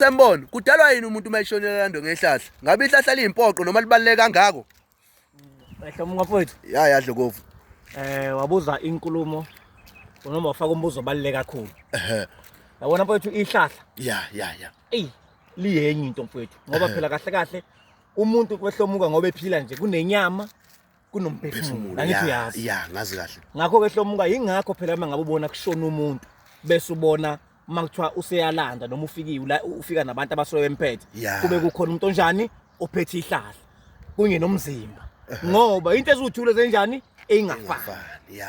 Semboni, kudalwa yini umuntu uma eshonela lando ngehlahla? Ngabe ihlahla liyimpoqo noma libaluleke kangako? Ehle umngafowethu. Ya ya Dlokovu. Eh wabuza inkulumo noma wafaka umbuzo obaluleke kakhulu. Ehhe. Yabona mfowethu ihlahla. Ya ya ya. Ey liyenye into mfowethu ngoba phela kahle kahle umuntu kwehlomuka ngoba ephila nje kunenyama kunomphefumulo angithi uyazi ya ngazi kahle ngakho ke hlomuka yingakho phela uma ngabe ubona kushona umuntu bese ubona uma kuthiwa useyalanda noma ufikiwe la ufika nabantu abasoye emphethe kube kukhona umuntu onjani ophethe ihlahla kunye nomzimba ngoba into eziwuthule zenjani eyingafani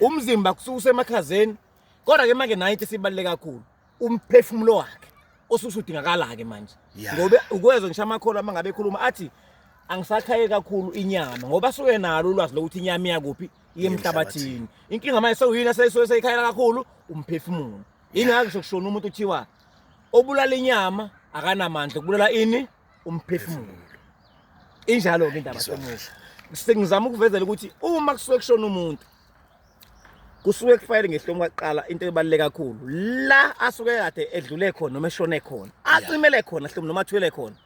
umzimba kususe emakhazeni kodwa ke manje nayo into esibaluleke kakhulu umphefumulo wakhe osusudingakala-ke manje Yeah. ngoba ukwezwa ngisho amakholwa uma ngabe ekhuluma athi angisakhaye kakhulu inyama ngoba suke nalo ulwazi lokuthi inyama iyakuphi iye emhlabathini inkinga manje sewuyini asesuke seyikhayela kakhulu umphefumulo yingakho ngisho kushona umuntu kuthiwa obulala inyama akanamandla kubulala ini umphefumulo injalo-ke indaba Ngizwa. semusha sengizama ukuvezela ukuthi uma kusuke kushona umuntu kusuke kufanele ngehlomo kwaqala into ebaluleke kakhulu la asuke kade edlule khona noma eshone khona acimele khona hlomo noma athwele khona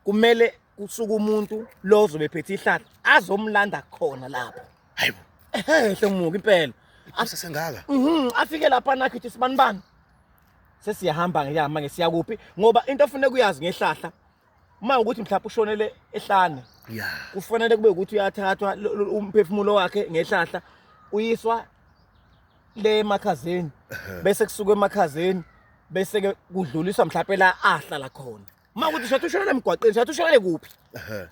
kumele kusuke umuntu lo ozobe phethe ihlahla azomlanda khona lapho hayibo ehe hlomuka impela asesengaka mhm afike lapha nakho ithi sibanibani sesiyahamba ngiyama ngesiyakuphi ngoba into ofuneka uyazi ngehlahla uma ukuthi mhlawumbe ushonele ehlane yeah kufanele kube ukuthi uyathathwa umphefumulo wakhe ngehlahla uyiswa le emakhazeni bese kusuka emakhazeni bese ke kudluliswa mhlawumbe la ahlala khona uma ukuthi shathi ushonele emgwaqeni shathi ushonele kuphi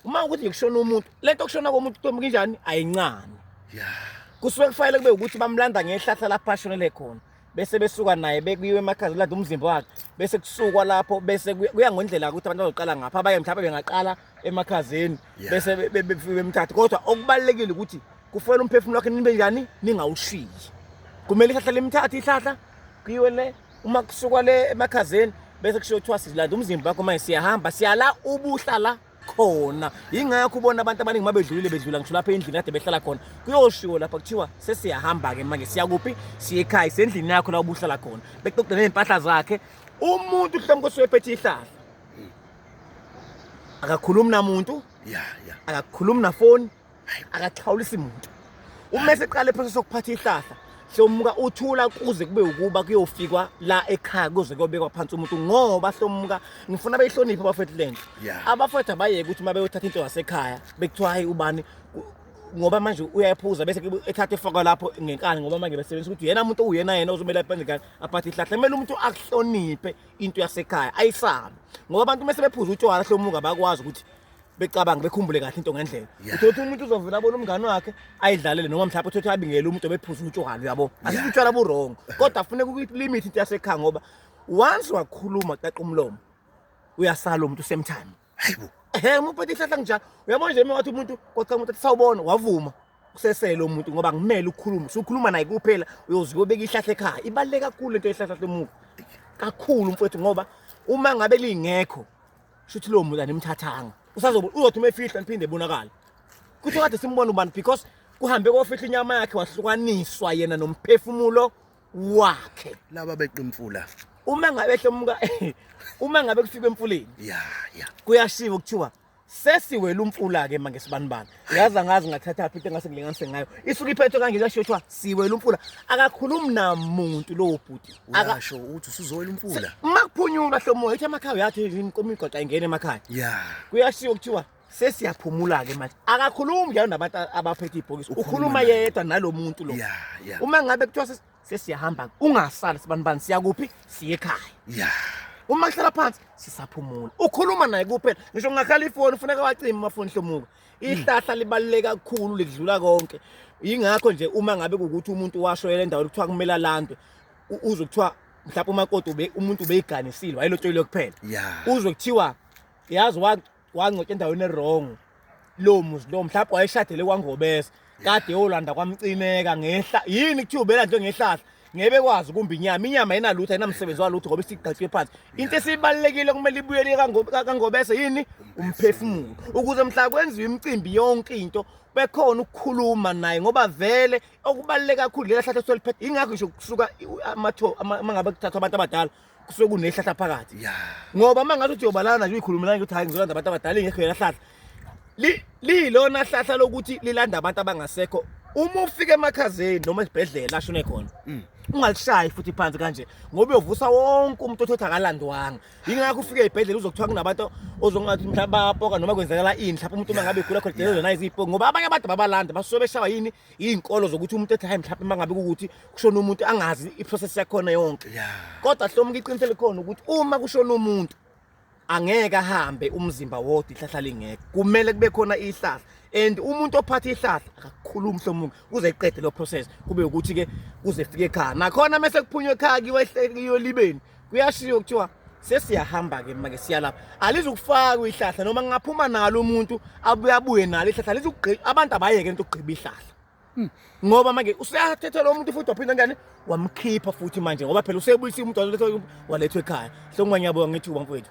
uma ukuthi kushona umuntu lento kushona komuntu ntombi kinjani ayincane yeah kusuke kufanele kube ukuthi bamlanda ngehlahla lapho ashonele khona bese besuka naye bekuyiwe emakhazi lade umzimba wakhe bese kusukwa lapho bese kuya ngendlela ukuthi abantu bazoqala ngapha abaye mhlawumbe bengaqala emakhazeni bese befike bemthathe kodwa okubalulekile ukuthi kufanele umphefumulo wakhe nibe njani ningawushiyi kumele ihlahla limthathe ihlahla kuyiwe le uma kusukwa le emakhazeni bese kushiwo kuthiwa silanda umzimba wakho manje siyahamba siyala ubuhlala khona yingakho ubona abantu abaningi uma bedlulile bedlula ngisho lapha endlini kade behlala khona kuyoshiwo lapha kuthiwa sesiyahamba-ke manje siyakuphi siyekhaya sendlini yakho la ubuhlala khona bexoxe ney'mpahla zakhe umuntu mhlawumbe kosuwephethe ihlahla akakhulumi namuntu akakhulumi nafoni akaxhawulisi muntu uma eseqala ephosa sokuphatha ihlahla hlomuka uthula kuze kube ukuba kuyofikwa la ekhaya kuze kuyobekwa phansi umuntu ngoba hlomuka ngifuna beyihloniphe abafethu lento abafethu abayeke ukuthi uma beyothatha into yasekhaya bekuthiwa hayi ubani ngoba manje uyayiphuza bese ethatha efaka lapho ngenkani ngoba manje besebenzisa ukuthi yena umuntu uyena yena ozomele aphenze kani aphathe ihlahla kumele umuntu akuhloniphe into yasekhaya ayisabe ngoba abantu uma sebephuza utshwala hlomuka bakwazi ukuthi becabanga bekhumbule kahle into ngendlela uthothi umuntu uzovela abona umngane wakhe ayidlalele noma mhlawumbe uthothi abingele umuntu obephuza utshwala uyabo asithi utshwala buwrong kodwa funeka ukulimit into yasekhaya ngoba once wakhuluma qaqa umlomo uyasala umuntu same time hayibo ehe umuphethe ihlahla kunjalo uyabona nje wathi umuntu kwacha umuntu athi sawubona wavuma kusesele umuntu ngoba ngimele ukukhuluma usukhuluma naye kuphela uyozibe ubeka ihlahla ekhaya ibaluleke kakhulu into yehlahla lomuntu kakhulu mfowethu ngoba uma ngabe lingekho shuthi lowo muntu animthathanga usazobe uzothi uma efihla niphinde ebonakale kuthiwa kade simbona ubani because kuhambe kofihla inyama yakhe wahlukaniswa yena nomphefumulo wakhe laba beqa imfula uma ngabe ehlomuka uma ngabe kufika emfuleni ya ya kuyashiwo kuthiwa sesiwela umfula ke manje sibanibani yazi angazi ngathathaphi into engase ngilinganise ngayo isuke iphethwe kanje kuyashoshwa siwela umfula akakhulumi namuntu lowo bhuti akasho ukuthi usuzowela umfula uma kuphunyulwa hlomoya ithi amakhaya yathi imigwaqa ingena emakhaya ya kuyashiwo kuthiwa sesiyaphumula-ke manje akakhulumi njalo nabantu abaphethe ibhokisi ukhuluma yedwa nalo muntu lo uma ngabe kuthiwa sesiyahamba ungasali sibanibani siyakuphi siye ekhaya ya uma kuhlala phansi sisaphumula ukhuluma naye kuphela ngisho ngakhala ifoni ufuneka wacima amafoni hlomuka ihlahla libaluleke kakhulu lidlula konke yingakho nje uma ngabe ukuthi umuntu washoyela endaweni kuthiwa kumele alandwe uzwe kuthiwa mhlawumbe umakoti umuntu ubeyiganisile wayelotsholile kuphela uzwe kuthiwa yazi wangcwetshwa endaweni ewrong lowo muzi lowo mhlawumbe wayeshadele kwangobese kade yolanda kwamcineka ngehla yini kuthiwa ubelandlwe ngehlahla ngebe kwazi kumbi inyama inyama ayinalutho ayinamsebenzi walutho ngoba isigqatshwe phansi into esibalulekile kumele ibuyele kangobese yini umphefumulo ukuze mhla kwenziwa imicimbi yonke into bekhona ukukhuluma naye ngoba vele okubaluleke kakhulu lela hlahle soliphethe ingakho ngisho kusuka amatho mangabe kuthathwa abantu abadala kusuke kunehlahla phakathi ngoba uma ngathi uthi yobalana naje uyikhulumelana ukuthi hhayi ngizolanda abantu abadala ingekho yela hlahla liyilona hlahla lokuthi lilanda abantu abangasekho uma ufika emakhazeni noma esibhedlela ashone khona mm. ungalishayi futhi phansi kanje ngoba uyovusa wonke umuntu othi akalandwanga yingakho ufike ey'bhedlela uzokuthiwa kunabantu ozongathi mhlawumbe bayapoka noma kwenzakala ini mhlawumbe umuntu uma ngabe igula khona delelo nayiziyipoki ngoba abanye abantu babalanda basuke beshawa yini iy'nkolo zokuthi umuntu ethi hayi mhlawumbe uma ngabe kukuthi kushona umuntu angazi iprocess yakhona yonke kodwa hlomuka iqiniso elikhona ukuthi uma kushona umuntu angeke ahambe umzimba wodwa ihlahla lingeke kumele kube khona ihlahla and umuntu ophatha ihlahla akakhulumi hlomuka kuze iqede lo process kube ukuthi ke kuze fike ekhaya nakhona mase kuphunywa ekhaya kiwe ehlekiyolibeni kuyashiya kuthiwa sesiyahamba ke manje siyalapha alizukufakwa ihlahla noma ngingaphuma nalo umuntu abuye abuye nalo ihlahla alizukugqiba abantu abayeke into ukugqiba ihlahla hmm. ngoba manje useyathethelwa umuntu futhi waphinde njani wamkhipha futhi manje ngoba phela usebuyisa umuntu walethwa ekhaya so ngwanyabuka ngithi ubamfowethu